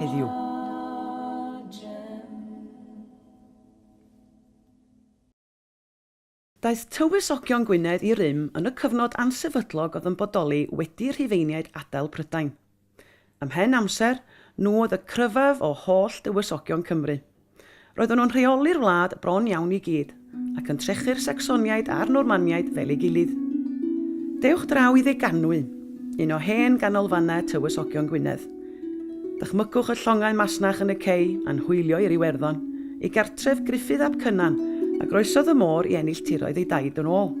heddiw. Daeth tywysogion Gwynedd i rym yn y cyfnod ansefydlog oedd yn bodoli wedi Rhufeiniaid adael Prydain. Ymhen amser, nhw oedd y cryfaf o holl dywysogion Cymru. Roedden nhw'n rheoli'r wlad bron iawn i gyd, ac yn trechu'r Sacsoniaid a'r Normaniaid fel ei gilydd. Dewch draw i Ddeganwy, un o hen ganolfannau Tywysogion Gwynedd. Dychmygwch y llongau masnach yn y cei a'n hwylio i'r Iwerddon, ei gartref Gruffydd ap Cynan, a groesodd y môr i ennill tiroedd ei daid yn ôl.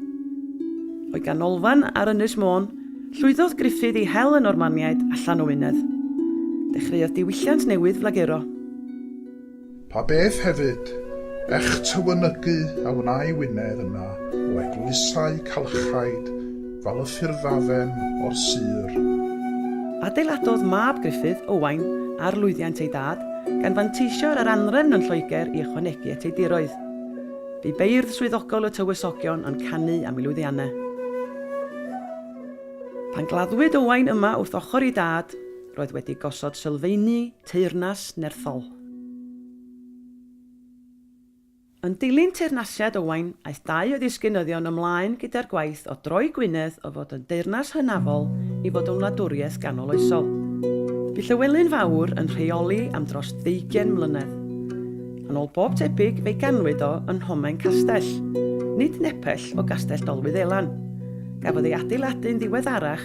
O'i ganolfan ar Ynys Môn, llwyddodd Gruffydd i hel y Normaniaid allan o Wynedd. Dechreuodd diwylliant newydd flaguro. Pa beth hefyd, ech tywynygu a wnâi Wynedd yna o eglwysau calchaid fal y ffyrddafem o'r sir. Adeiladodd mab Gruffydd, Owain, ar lwyddiant ei dad, gan fanteisio ar yr anrefn yn Lloegr i ychwanegu at ei diroedd. Bu beirdd swyddogol y tywysogion yn canu am ei lwyddianne. Pan gladdwyd Owain yma wrth ochr ei dad, roedd wedi gosod sylfeini Teyrnas Nerthol Yn dilyn teyrnasiad Owain, aeth dau o ddisgynyddion ymlaen gyda'r gwaith o droi Gwynedd o fod yn deyrnas hynafol i fod yn wladwriaeth ganoloesol. Bu Llywelyn Fawr yn rheoli am dros ddeugain mlynedd. Yn ôl bob tebyg fe'i ganwyd o yn Nhomen Castell, nid nepell o Gastell Dolwyddelan. Gafodd ei adeiladu'n ddiweddarach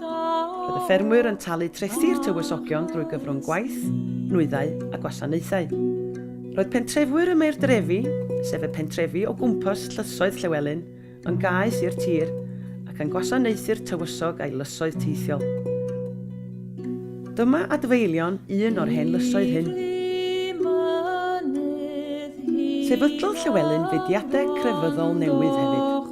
Roedd y ffermwyr yn talu trethi'r tywysogion drwy gyfrwng gwaith, nwyddau a gwasanaethau. Roedd pentrefwyr y Maeurdrefi, sef y pentrefi o gwmpas Llysoedd Llewelyn, yn gaeth i'r tir ac yn gwasanaethu'r tywysog a'i lysoedd teithiol. Dyma adfeilion un o'r hen lysoedd hyn. Sefydlodd Llewelyn fudiadau crefyddol newydd hefyd.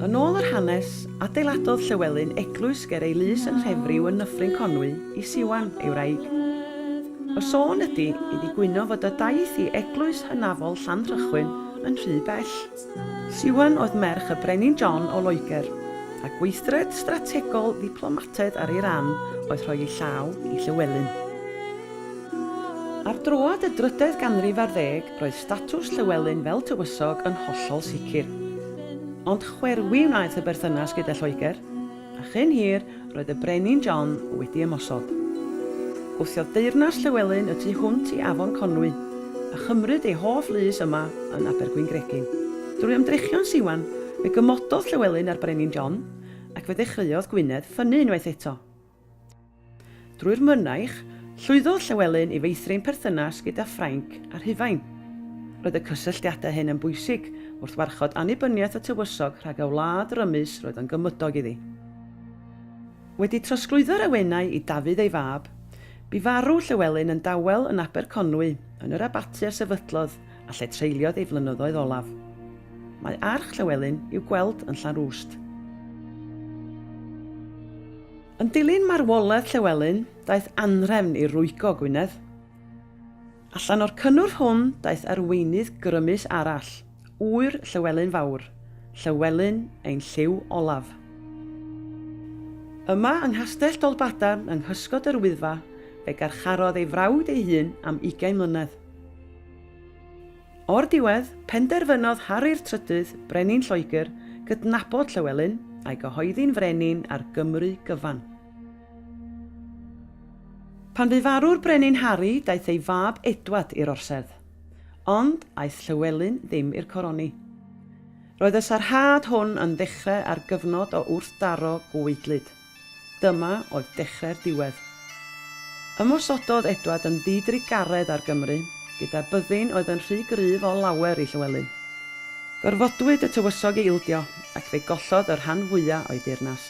Yn ôl yr hanes, adeiladodd Llywelyn eglwys ger ei lys yn Nhrefriw yn Nyffryn Conwy i Siwan, ei wraig. Y sôn ydi iddi gwyno fod y daeth i eglwys hynafol Llanrhychwyn yn rhy bell. Siwan oedd merch y Brenin John o Loegr, a gweithred strategol ddiplomataidd ar ei ran oedd rhoi ei llaw i Llywelyn. Ar droad y drydedd ganrif ar ddeg, Roedd statws Llywelyn fel tywysog yn hollol sicr. Ond chwerwi wnaeth y berthynas gyda Lloegr, a chyn hir roedd y Brenin John wedi ymosod. Gwthiodd deyrnas Llywelyn y tu hwnt i Afon Conwy, a chymryd ei hoff lys yma yn Abergwyngregyn. Drwy ymdrechion Siwan, fe gymododd Llywelyn â'r Brenin John, ac fe ddechreuodd Gwynedd ffynnu unwaith eto. Drwy'r mynaich, llwyddodd Llewelyn i feithrin perthynas gyda Ffrainc a Rhufain. Roedd y cysylltiadau hyn yn bwysig wrth warchod annibyniaeth y tywysog rhag y wlad rymus roedd yn gymydog iddi. Wedi trosglwyddo'r awenau i Dafydd ei fab, bu farw Llewelyn yn dawel yn Aberconwy yn yr abaty a sefydlodd a lle treuliodd ei flynyddoedd olaf. Mae arch Llywelyn i'w gweld yn Llanrwst. Yn dilyn marwolaeth Llywelyn, daeth anhrefn i rwygo Gwynedd. Allan o'r cynnwrf hwn daeth arweinydd grymus arall, ŵyr Llywelyn Fawr, Llywelyn ein Llyw Olaf. Yma yng Nghastell Dolbadarn yng nghysgod yr Wyddfa fe garcharodd ei frawd ei hun am ugain mlynedd. O'r diwedd, penderfynodd Harri'r Trydydd, Brenin Lloegr, gydnabod Llywelyn, a'i gyhoeddi'n frenin ar Gymru gyfan. Pan fu farw'r Brenin Harri, daeth ei fab Edward i'r orsedd. Ond, aeth Llywelyn ddim i'r coroni. Roedd y sarhad hwn yn ddechrau ar gyfnod o wrthdaro gweidlyd. Dyma oedd dechrau'r diwedd. Ymosododd Edward yn ddi-drugaredd ar Gymru, gyda byddin oedd yn rhy gryf o lawer i Llywelyn. Gorfodwyd y tywysog i ildio, ac fe gollodd y rhan fwya o'i deyrnas.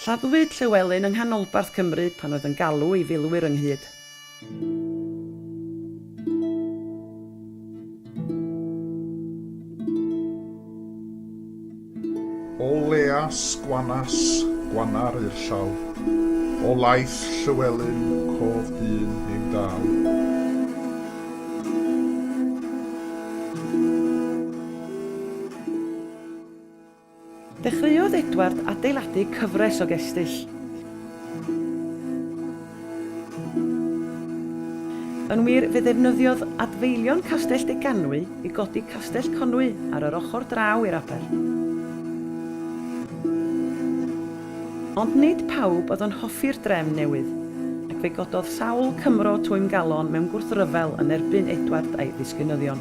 Lladdwyd Llywelyn yng nghanolbarth Cymru pan oedd yn galw ei filwyr ynghyd. O leas gwanas gwanar i'r llaw, o laeth Llywelyn cof dyn ein daw. Dechreuodd Edward adeiladu cyfres o gestyll. Yn wir, fe ddefnyddiodd adfeilion Castell Deganwy i godi Castell Conwy ar yr ochr draw i'r aber. Ond nid pawb oedd yn hoffi'r drefn newydd, ac fe gododd sawl Cymro twymgalon mewn gwrthryfel yn erbyn Edward a'i ddisgynyddion.